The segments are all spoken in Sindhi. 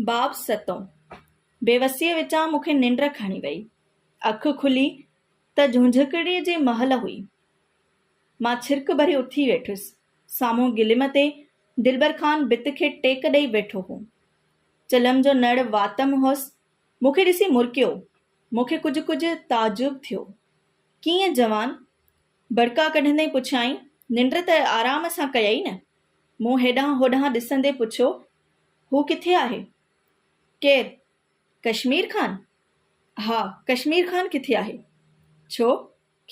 باب ستون، بيوسيء وچان مون کي ننڊ کڻي ويئي. اک کلي ته جهونجهڪڙي جي مهل هئي. مان ڇرڪ ڀري اٿي ويٺس. سامهون گليم تي دلبر خان ڀت کي ٽيڪ ڏئي ويٺو هو. چلم جو نڙ واتم هوس. مون کي ڏسي مرڪيو. مون کي ڪجهه ڪجهه تعجب ٿيو. ڪيئن جوان؟ برقعا ڪڍندي پڇيائين، ننڊ ته آرام سان ڪيئي نه؟ مون هيڏانهن هوڏانهن ڏسندي پڇيو، هو ڪٿي آهي؟ ڪير؟ ڪشمير خان؟ ها ڪشمير خان ڪٿي آهي؟ ڇو؟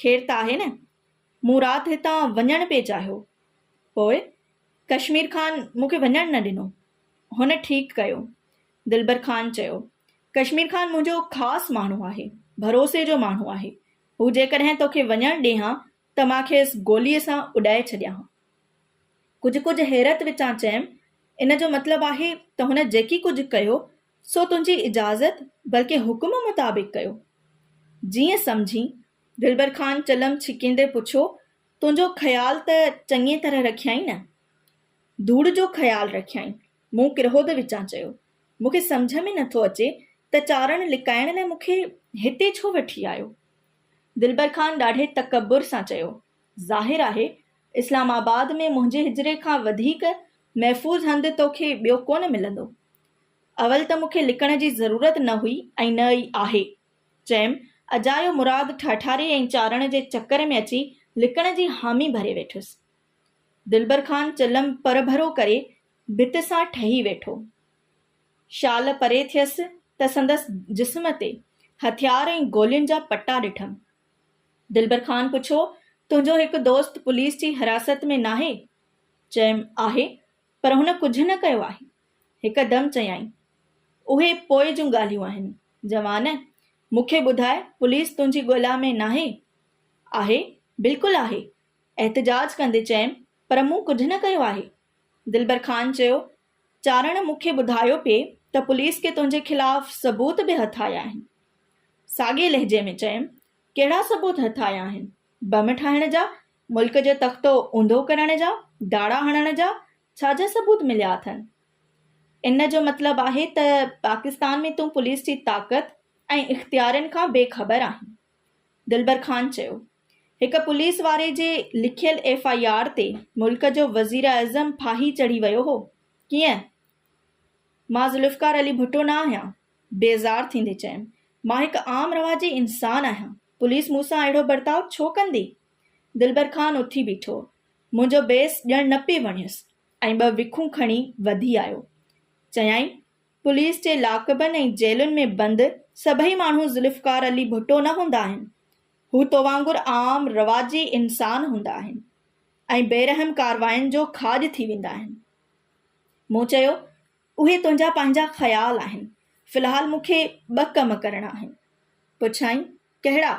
خير ته آهي نه؟ مون رات هتان وڃڻ پئي چاهيو. پوء؟ ڪشمير خان مون کي وڃڻ نه ڏنو. هن ٺيڪ ڪيو. دلبر خان چيو، ڪشمير خان منهنجو خاص ماڻهو آهي، ڀروسي جو ماڻهو آهي. هو جيڪڏهن توکي وڃڻ ڏي هان ته مان کيس گوليء سان اڏائي ڇڏيان هان. ڪجهه ڪجهه حيرت وچان چيم، ان جو مطلب آهي ته هن جيڪي ڪجهه ڪيو سو تنهنجي اجازت بلڪه حڪم مطابق ڪيو؟ جيئن سمجهين. دلبر خان چلم ڇڪيندي پڇيو، تنهنجو خيال ته چڱيء طرح رکيائين نه؟ ڌوڙ جو خيال رکيائين. مون ڪرهوڌ وچان چيو، مون کي سمجهه ۾ نٿو اچي ته چارڻ لڪائڻ لاء مون کي هتي ڇو وٺي آيو؟ دلبر خان ڏاڍي تڪبر سان چيو، ظاهر آهي اسلام آباد ۾ منهنجي حجري کان وڌيڪ محفوظ هنڌ تو کي ٻيو ڪونه ملندو. اول ته مون کي لڪڻ جي ضرورت نه هئي ۽ نه ئي آهي. چيم، اجايو مراد ٺهٺاري ۽ چارڻ جي چڪر ۾ اچي لڪڻ جي حامي ڀري ويٺس. دلبر خان چلم پرڀرو ڪري ڀت سان ٺهي ويٺو. شال پري ٿيس ته سندس جسم تي هٿيار ۽ گولين جا پٽا ڏٺم. دلبر خان پڇيو، تنهنجو هڪ دوست پوليس جي حراست ۾ ناهي؟ چيم، آهي، پر هن ڪجهه نه ڪيو آهي. هڪ دم چيائين، اهي پوء جون ڳالهيون آهن. جوان، مون کي ٻڌاء، پوليس تنهنجي ڳولا ۾ ناهي؟ آهي، بلڪل آهي، احتجاج ڪندي چيم، پر مون ڪجهه نه ڪيو آهي. دلبر خان چيو، چارڻ مون کي ٻڌايو پئي ته پوليس کي تنهنجي خلاف ثبوت به هٿ آيا آهن. ساڳئي لهجي ۾ چيم، ڪهڙا ثبوت هٿ آيا آهن؟ بم ٺاهڻ جا؟ ملڪ جو تختو اونڌو ڪرڻ جا؟ ڊاڙا هڻڻ جا؟ ڇا جا ثبوت مليا اٿن؟ ان جو مطلب آهي ته پاڪستان ۾ تون پوليس جي طاقت ۽ اختيارين کان بي خبر آهين. دلبر خان چيو. هڪ پوليس واري جي لکيل ايف آء آر تي ملڪ جو وزيراعظم ڦاهي چڙهي ويو هو. ڪيئن؟ مان ذوالفقار علي ڀٽو نه آهيان. بيزار ٿيندي چيم. مان هڪ عام رواجي انسان آهيان. پوليس مون سان اهڙو برتاء ڇو ڪندي؟ دلبر خان اٿي بيٺو. منهنجو بيس ڄڻ نه پئي وڻيس ۽ ٻه وکون کڻي وڌي آيو. چيائين. پوليس جي لاڪبن ۽ جيلن ۾ بند سڀئي ماڻهو ذوالفقار علي ڀٽو نه هوندا آهن. هو تو وانگر عام رواجي انسان هوندا آهن ۽ بيرحم ڪاررواين جو کاڄ ٿي ويندا آهن. مون چيو، اهي تنهنجا پنهنجا خيال آهن. في الحال مون کي ٻه ڪم ڪرڻا آهن. پڇيائين، ڪهڙا؟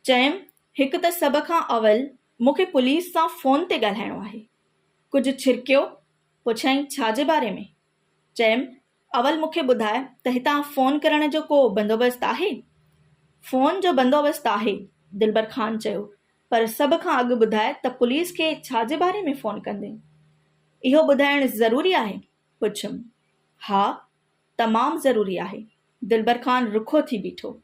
چيم، هڪ ته سڀ کان اول مون کي پوليس سان فون تي ڳالهائڻو آهي. ڪجهه ڇرڪيو، پڇيائين ڇا جي باري ۾؟ چيم، اول مون کي ٻڌاء ته هتان فون ڪرڻ جو ڪو بندوبست آهي؟ فون جو بندوبست آهي، دلبر خان چيو، پر سڀ کان اڳ ٻڌاء ته پوليس کي ڇا جي باري ۾ فون ڪندين؟ اهو ٻڌائڻ ضروري آهي؟ پڇيم، ها، تمام ضروري آهي. دلبر خان رکو ٿي بيٺو.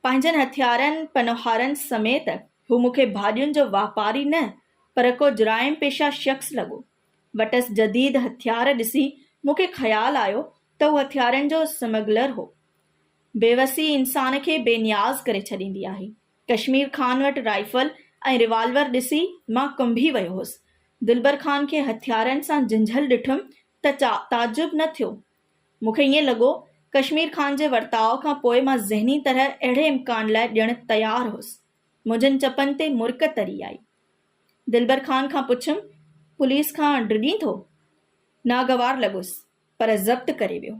پنهنجن هٿيارن پنوهارن سميت هو مون کي ڀاڄين جو واپاري نه پر ڪو جرائم پيشه شخص لڳو. وٽس جديد هٿيار ڏسي مون کي خيال آيو ته هو هٿيارن جو سمگلر هو. بيوسي انسان کي بي نياز ڪري ڇڏيندي آهي. ڪشمير خان وٽ رائفل ۽ ريوالور ڏسي مان ڪنبي ويو هوس. دلبر خان کي هٿيارن سان جنجهل ڏٺم ته تعجب نه ٿيو مون کي ائين لڳو، ڪشمير خان جي ورتاء کان پوء مان ذهني طرح اهڙي امڪان لاء ڄڻ تيار هوس. منهنجن چپن تي مرڪ تري آئي. دلبر خان کان پڇيم، پوليس کان ڊڄين ٿو؟ ناگوار لڳس، پر ضبط ڪري ويو.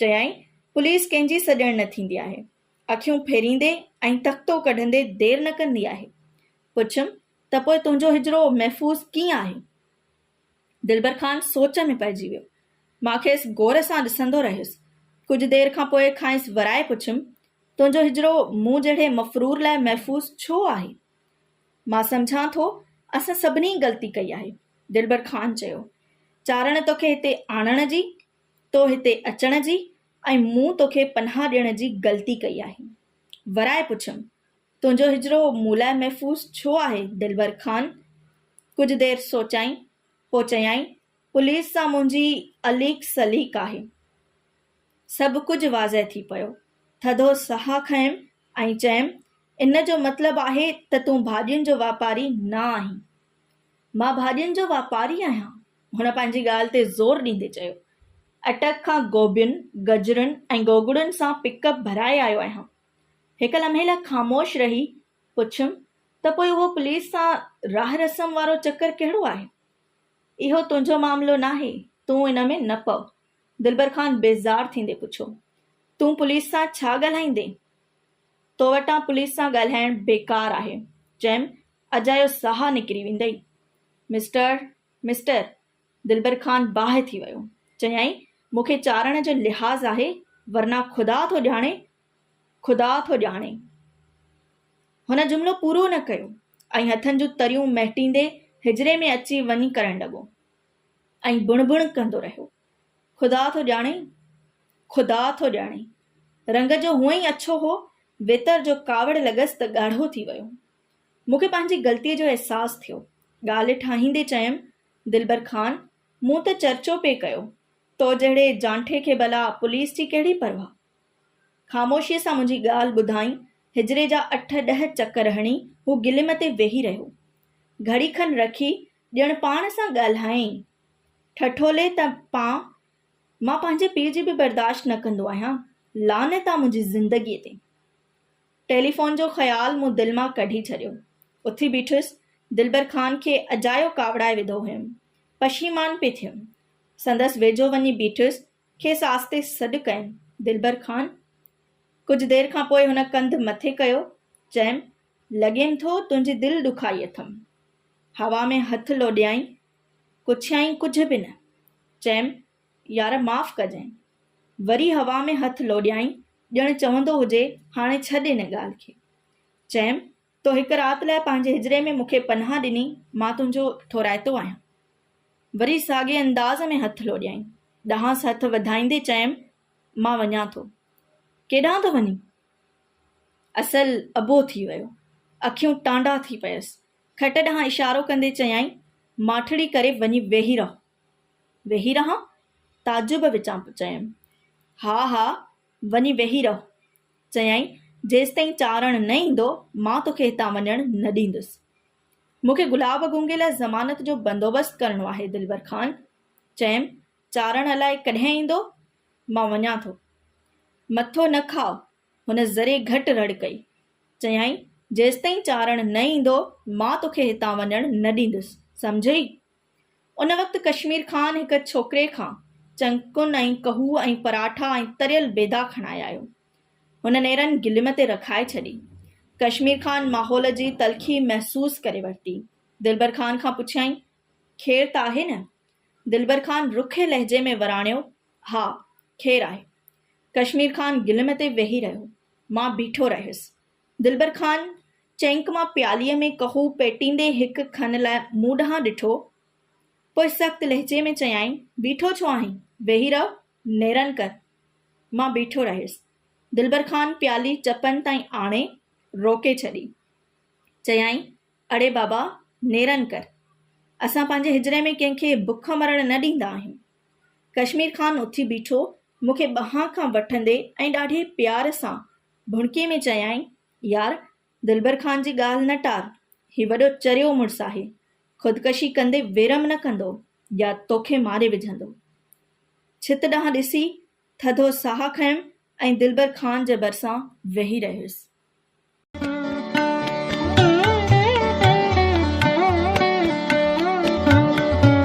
چيائين، پوليس ڪنهن جي سڄڻ نه ٿيندي آهي. اکيون ڦيريندي ۽ تختو ڪڍندي دير نه ڪندي آهي. پڇيم، ته پوء تنهنجو هجرو محفوظ ڪيئن آهي؟ دلبر خان سوچ ۾ پئجي ويو. مان کيس غور سان ڏسندو رهيس. ڪجهه دير کان پوء کانئس ورائي پڇيم، تنهنجو هجرو مون جهڙي مفرور لاء محفوظ ڇو آهي؟ مان سمجهان ٿو اسان سڀني غلطي ڪئي آهي. دلبر خان چيو، چارڻ توکي هتي آڻڻ جي، تو هتي اچڻ جي ۽ مون توکي پناهه ڏيڻ جي غلطي ڪئي آهي. ورائي پڇيم، تنهنجو هجرو مون لاء محفوظ ڇو آهي دلبر خان؟ ڪجهه دير سوچيائين، پوء چيائين، پوليس سان منهنجي اليڪ سليڪ آهي. سڀ ڪجهه واضح ٿي پيو. ٿڌو ساهه کنيم ۽ چيم، ان جو مطلب آهي ته تون ڀاڄين جو واپاري نه آهين. مان ڀاڄين جو واپاري آهيان. هن پنهنجي ڳالهه تي زور ڏيندي چيو، اٽڪ کان گوبين، گجرن ۽ گوگڙن سان پڪ اپ ڀرائي آيو آهيان. هڪ لمحي لاء خاموش رهي پڇيم ته پوء اهو پوليس سان راهه رسم وارو چڪر ڪهڙو آهي؟ اهو تنهنجو معاملو ناهي، تون ان ۾ نه پؤ. دلبر خان بيزار ٿيندي پڇيو. تون پوليس سان ڇا ڳالهائيندين؟ تو وٽان پوليس سان ڳالهائڻ بيڪار آهي. چيم اجايو ساهه نڪري ويندئي. مسٽر مسٽر دلبر خان باهه ٿي ويو. چيائين، مون کي چارڻ جو لحاظ آهي، ورنه خدا ٿو ڄاڻي، خدا ٿو ڄاڻي. هن جملو پورو نه ڪيو ۽ هٿن جون تريون مهٽيندي حجري ۾ اچي وڃي ڪرڻ لڳو ۽ بڻ بڻ ڪندو رهيو، خدا ٿو ڄاڻي، خدا ٿو ڄاڻي. رنگ جو هونئن ئي اڇو هو، ويتر جو ڪاوڙ لڳس ته ڳاڙهو ٿي ويو. مون کي پنهنجي غلطيء جو احساس ٿيو. ڳالهه ٺاهيندي چيم، دلبر خان، مون ته چرچو پئي ڪيو، تو جهڙي جانٺي کي ڀلا پوليس جي ڪهڙي پرواهه؟ خاموشيء سان منهنجي ڳالهه ٻڌائين، حجري جا اٺ ڏهه چڪر هڻي هو گليم تي ويهي رهيو. گهڙي کن رکي ڄڻ پاڻ سان ڳالهايائين، ٺٺولي ته پاء، مان پنهنجي پيء جي به برداشت نه ڪندو آهيان، لعنت آ منهنجي زندگيء تي! ٽيليفون جو خيال مون دل مان ڪڍي ڇڏيو. اٿي بيٺس، دلبر خان کي اجايو ڪاوڙائي وڌو هيم. پشيمان پئي ٿيم. سندس ويجهو وڃي بيٺس، کيس آستي سڏ ڪيم، دلبر خان! ڪجهه دير کان پوء هن ڪنڌ مٿي ڪيو، چيم، لڳيم ٿو تنهنجي دل ڏکائي اٿم. هوا ۾ هٿ لوڏيائين، پڇيائين ڪجهه به نه. چيم، يار معاف ڪجئين. وري هوا ۾ هٿ لوڏيائين، ڄڻ چوندو هجي، هاڻي ڇڏ ان ڳالهه کي. چيم، تو هڪ رات لاء پنهنجي هجري ۾ مون کي پناهه ڏني، مان تنهنجو ٺورائتو آهيان. وري ساڳئي انداز ۾ هٿ لوڏيائين. ڏانهس هٿ وڌائيندي چيم، مان وڃان ٿو. ڪيڏانهن ٿو وڃين؟ اصل اڀو ٿي ويو. اکيون ٽانڊا ٿي پيس. کٽ ڏانهن اشارو ڪندي چيائين، ماٺڙي ڪري وڃي ويهي رهه. ويهي رهان؟ تعجب وچان چيم. ها ها وڃي ويهي رهه. چيائين جيستائين چارڻ نه ايندو مان توکي هتان وڃڻ نه ڏيندس. مون کي گلاب گونگي لاء ضمانت جو بندوبست ڪرڻو آهي دلبر خان. چيم چارڻ الائي ڪڏهن ايندو؟ مان وڃان ٿو. مٿو نه کاء. هن ذري گهٽ رڙ ڪئي. چيائين جيستائين چارڻ نه ايندو مان توکي هتان وڃڻ نه ڏيندس. سمجهيئي؟ ان وقت ڪشمير خان هڪ ڇوڪري کان چنڪن ۽ ڪهوء ۽ پراٺا ۽ تريل بيدا کڻائي آيو. هن نيرن گليم تي رکائي ڇڏي. ڪشمير خان ماحول جي تلخي محسوس ڪري ورتي. دلبر خان کان پڇيائين، خير ته آهي نه؟ دلبر خان رکي لهجي ۾ وراڻيو، ها، خير آهي. ڪشمير خان گليم تي ويهي رهيو. مان بيٺو رهيس. دلبر خان چينڪ مان پياليء ۾ ڪهو پيٽيندي هڪ کن لاء مون ڏانهن ڏٺو، پوء سخت لهجي ۾ چيائين، بيٺو ڇو آهين؟ ويهي رهه، نيرن ڪر. مان بيٺو رهيس. دلبر خان پيالي چپن تائين آڻي، روڪي ڇڏي. چيائين، اڙي بابا، نيرن ڪر. اسان پنهنجي هجري ۾ ڪنهن کي بک مرڻ نه ڏيندا آهيون. ڪشمير خان اٿي بيٺو، مون کي ٻانهن کان وٺندي ۽ ڏاڍي پيار سان ڀڻڪي ۾ چيائين، يار! دلبر خان جي ڳالهه نه ٽار، هي وڏو چريو مڙس آهي، خودڪشي ڪندي ويرم نه ڪندو يا توکي ماري وجهندو. ڇت ڏانهن ڏسي، ٿڌو ساهه کنيم ۽ دلبر خان جي ڀرسان ويهي رهيس.